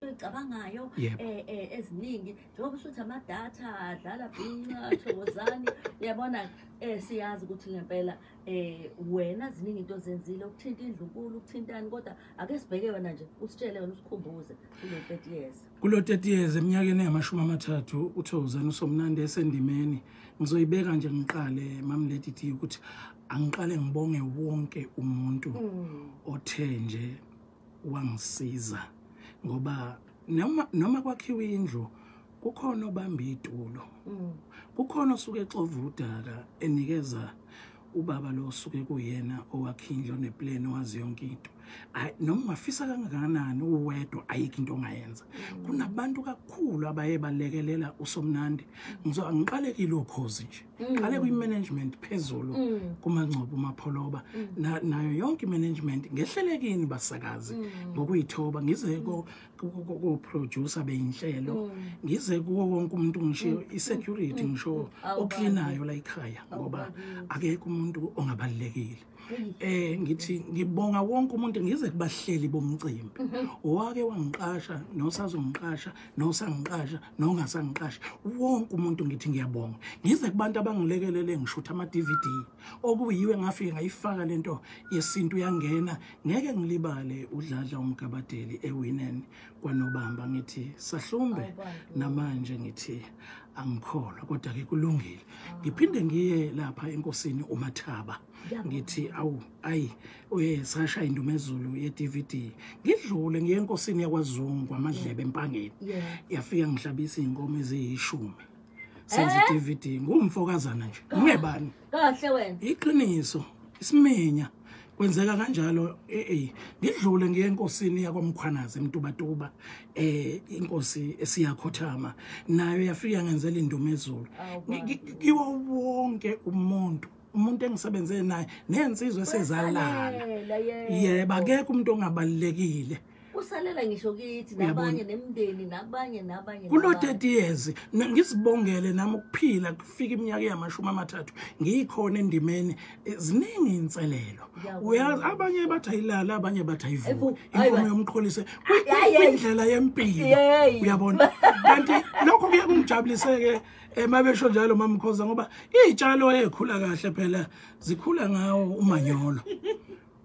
ezicabangayo Yebo. eh, eh, eziningi njengoba usuthi amadatha dlala bhinca thokozani uyabona eh, siyazi ukuthi ngempela eh, wena ziningi into ozenzile ukuthinta indlunkulu ukuthintani kodwa ake sibheke wena nje usitshele wena usikhumbuze kulo 30 years kulo 30 years eminyakeni engamashumi amathathu uthokozani usomnandi esendimeni ngizoyibeka nje ngiqale mamlady t ukuthi angiqale ngibonge wonke umuntu othe nje wangisiza ngoba noma noma kwakhiwa indlu kukhona obamba itulo mm. kukhona osuke exova udaka enikeza ubaba lo osuke kuyena owakhe indlu oneplan owazi yonke into noma ungafisa kangakanani uwedwa ayikho into ongayenza mm. kunabantu kakhulu abaye balekelela usomnandi ngizo angiqalekile ukhozi nje Mm. qale kwi-management phezulu mm. kumangcobo umapholoba mm. nayo yonke i-management ngehlelekini basakazi ngokuyithoba ngize koproducer beyinhlelo ngize kuwo wonke umuntu ngishiyo i-security ngisho oklinayo la ikhaya ngoba akekho umuntu ongabalulekile eh ngithi ngibonga wonke umuntu ngize kubahleli bomcimbi mhm. owake wangiqasha nosazongiqasha nosangiqasha nongasangiqasha wonke umuntu ngithi ngiyabonga ngize kubantu abangilekelele ngishutha ama DVD okuyiwe ngafike ngayifaka lento yesintu yangena ngeke ngilibale udladla umgabadeli ewineni kwanobamba ngithi sahlumbe namanje ngithi angikholwa kodwa ke kulungile ngiphinde ngiye lapha enkosini umathaba ngithi awu ayi uyesasha indumezulu ye-dvd ngidlule ngiye enkosini yakwazungu kwamadlebe empangeni yafika ngihlabisa iy'nkomo eziyishumi senze i-dvd ngumfokazana nje ngingebani kahle wena iqiniso isimenya kwenzeka kanjalo eh, eh ngidlule ngiye enkosini yakwamkhwanazi emtubatuba eh inkosi esiyakhothama nayo yafika ngenzela indumezulu kiwo wonke umuntu umuntu engisebenze naye nensizwe sezalala yebo akekho umuntu ongabalekile yeah, usalela ngisho kithi nabanye nemndeni nabanye nabanye kulo 30 years ngisibongele nami ukuphila kufika iminyaka yamashumi amathathu ngiyikhona endimeni eh, ziningi inselelo uyazi abanye bathi ayilala abanye bathi ayivuki inkomo yomqholise indlela yempilo uyabona kanti lokho kuye kungijabuliseke emabesho eh, njalo mamkhoza ngoba izitshalo ezikhula kahle phela zikhula ngawo umanyolo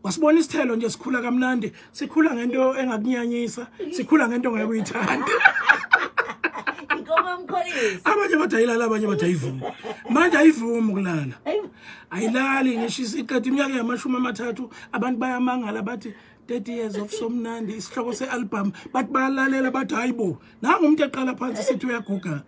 wasibona isithelo nje sikhula kamnandi sikhula ngento engakunyanyisa sikhula ngento ngeke uyithanda inkomo mkholisi abanye bathi ayilala abanye bathi ayivumi manje ayivumi ukulala ayilali ngisho isiqeda iminyaka yamashumi amathathu abantu bayamangala bathi 30 years of somnandi isihloko se-album bathi bayalalela bathi hayi bo nangu umuntu eqala phansi sithi uyaguga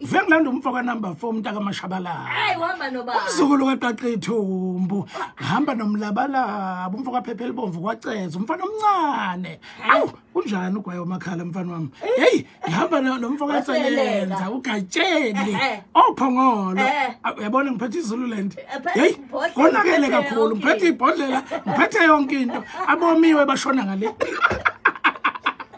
Ngifike ngilanda umfo ka number 4 umntaka kaMashabalala. Hayi uhamba nobaba. Umzukulu kaQaqithumbu. Hamba nomlabalaba umfo kaPhephe elibomvu kwaceza umfana omncane. Awu kunjani ugwayo makhala mfana wami. Eh. Hey ngihamba nomfo kaSelenza uGatsheni eh, eh. ophongolo. Uyabona ngiphethe izulu lento. Hey konakele kakhulu ngiphethe ibhodlela ngiphethe yonke into abomiwe bashona ngale.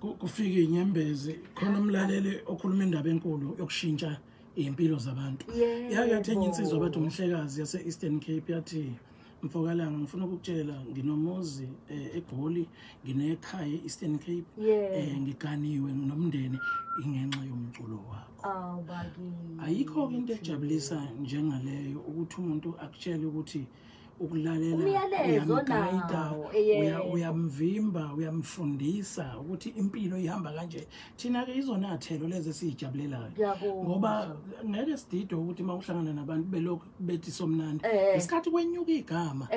kufike inyembezi khona umlaleli okhuluma indaba enkulu yokushintsha iy'mpilo zabantu yake yathi enye insizwa bathi umhlekazi yase-eastern cape yathi mfokalanga ngifuna ukukutshela nginomuzi eh, egoli nginekhaya e-eastern cape eh, ngiganiwe nomndeni ingenxa yomculo wakho ayikho-ke into ejabulisa njengaleyo ukuthi umuntu akutshele ukuthi ukulalela uyamvimba uyamfundisa ukuthi impilo ihamba kanje thina-ke izona thelo lezi esiyijabulelayo ngoba ngeke sidide ukuthi uma uhlangana nabantu belokhu bethi somnandi eh. ngesikhathi kwenyuka igama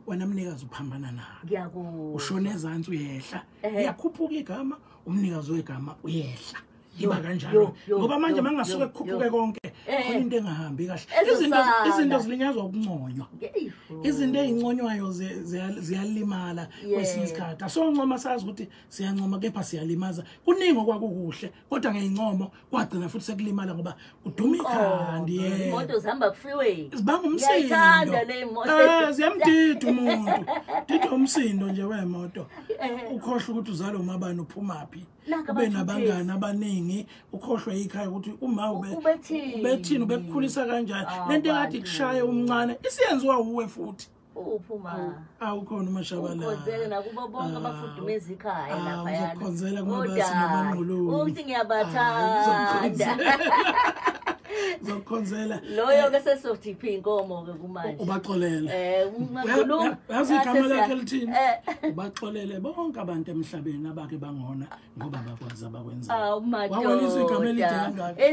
wena mnikazi uphambana nalo ushona ezansi uyehla iyakhuphuka igama umnikazi wegama uyehla yiba kanjalo ngoba manje mangasuke kukhuphuke konke eh. khona into engahambi kahle izinto izinto zilinyazwa ukunconywa izinto ezinconywayo ziyalimala kwesinye isikhathi asoncoma sazi ukuthi siyancoma kepha siyalimaza kuningi okwakukuhle kodwa ngeyincomo kwagcina futhi sekulimala ngoba kuduma ikhandi yena imoto zihamba freeway zibanga umsindo eh ziyamdida umuntu dida umsindo nje wemoto eh. ukhohle ukuthi uzalo mabani uphumaphi ube nabangani abaningi ukhohlwe yikhaya ukuthi uma ubethini ubekukhulisa kanjani ah, lento engathi kushaye umncane isiyenziwa wuwe futhi uphuma awukhona umashabalalakhonzele nakubo bonke ah, abafudumeza ikhaya ah, laphayanakhonzela kumabasinabangquluni ukuthi ngiyabathanda zokukhonzela loyo ke sesothi phi inkomo ke kumanje ubaxolele eh uyazi igama lakhe lithini eh. ubaxolele bonke abantu emhlabeni bake bangona ngoba bakwazi abakwenzayo wawelisa igama elide kangaka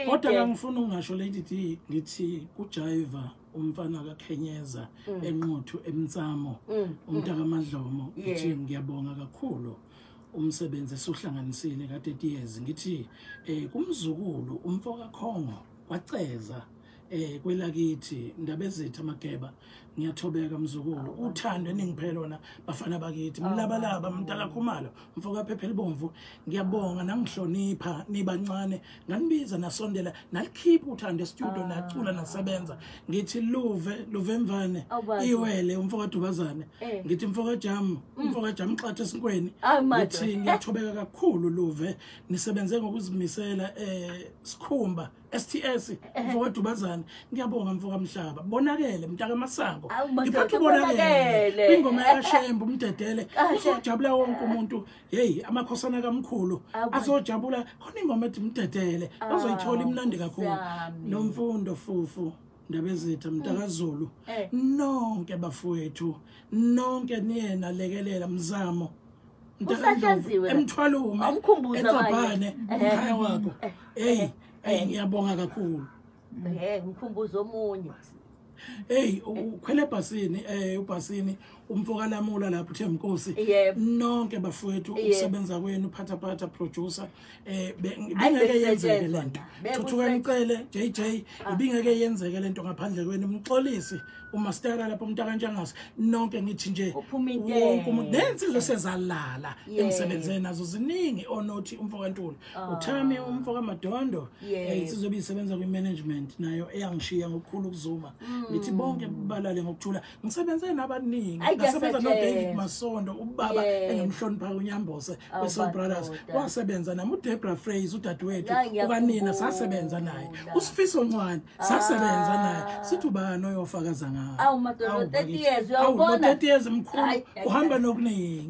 kodwa kangifuni ukungasho lady d ngithi kujayiva umfana kakhenyeza mm. enquthu emnsamo mm, mm. umntakamadlomo ngithi ngiyabonga kakhulu umsebenzi esuhlanganisile ka-30 years ngithi um kumzukulu umfo kakhongo waceza eh kwelakithi ndabezethu amageba ngiyathobeka mzukulu uthando eningiphe lona bafana bakithi mlabalaba oh, mntala khumalo mfoka phephe libomvu ngiyabonga nangihlonipha nibancane nganibiza nasondela nalikhipha uthando estudio ah. nacula nasebenza ngithi luve luve mvane oh, iwele umfoka dubazane eh. ngithi mfoka jam mm. umfoka jam xathe esinkweni ah, ngithi ngiyathobeka kakhulu luve nisebenze ngokuzimisela eh sikhumba STS mfowethu bazana ngiyabonga mfoka mhlaba bonakele mntaka masango ngiphathe bonakele ingoma yashembu umdedele uzojabula wonke umuntu hey amakhosana kamkhulu azojabula khona ingoma ethi umdedele bazoyithola ah, imnandi kakhulu nomfundo fufu Ndabezitha mntakazulu mm. eh. nonke bafowethu nonke niyena lekelela mzamo mntakandlovu emthwalume ecabhane umkhaya wakho eyi eyi ngiyabonga kakhulu ngikhumbuza omunye eyi ukhwele ebhasini um ubhasini umfokalamula lapho uthemnkosi nonke bafowethu ukusebenza kwenu phathaphatha producer eh bengeke yenzeke lento thuthuka ngicele JJ ah. ibingeke yenzeke lento ngaphandle kwenu umxolisi uma sitaka lapho umntaka njengase nonke ngithi nje wonke umuntu nensizwe sezalala emsebenzeni nazo ziningi onothi umfokantulu ah. uthami umfoka madondo eh, insizwe bisebenza kwi management nayo eyangishiya ngokukhulu ukuzuma mm. ngithi bonke balale ngokuthula ngisebenze nabaningi ngasebenza nodavid masondo ubaba engimhloniphayo unyambose wesoul brothers wasebenza nam udebra frays udadewethu ukanina sasebenza naye usifiso ncwane ah. sasebenza naye sithi ubani oyofakaza ngawo30 years mkhulu uhamba nokuningi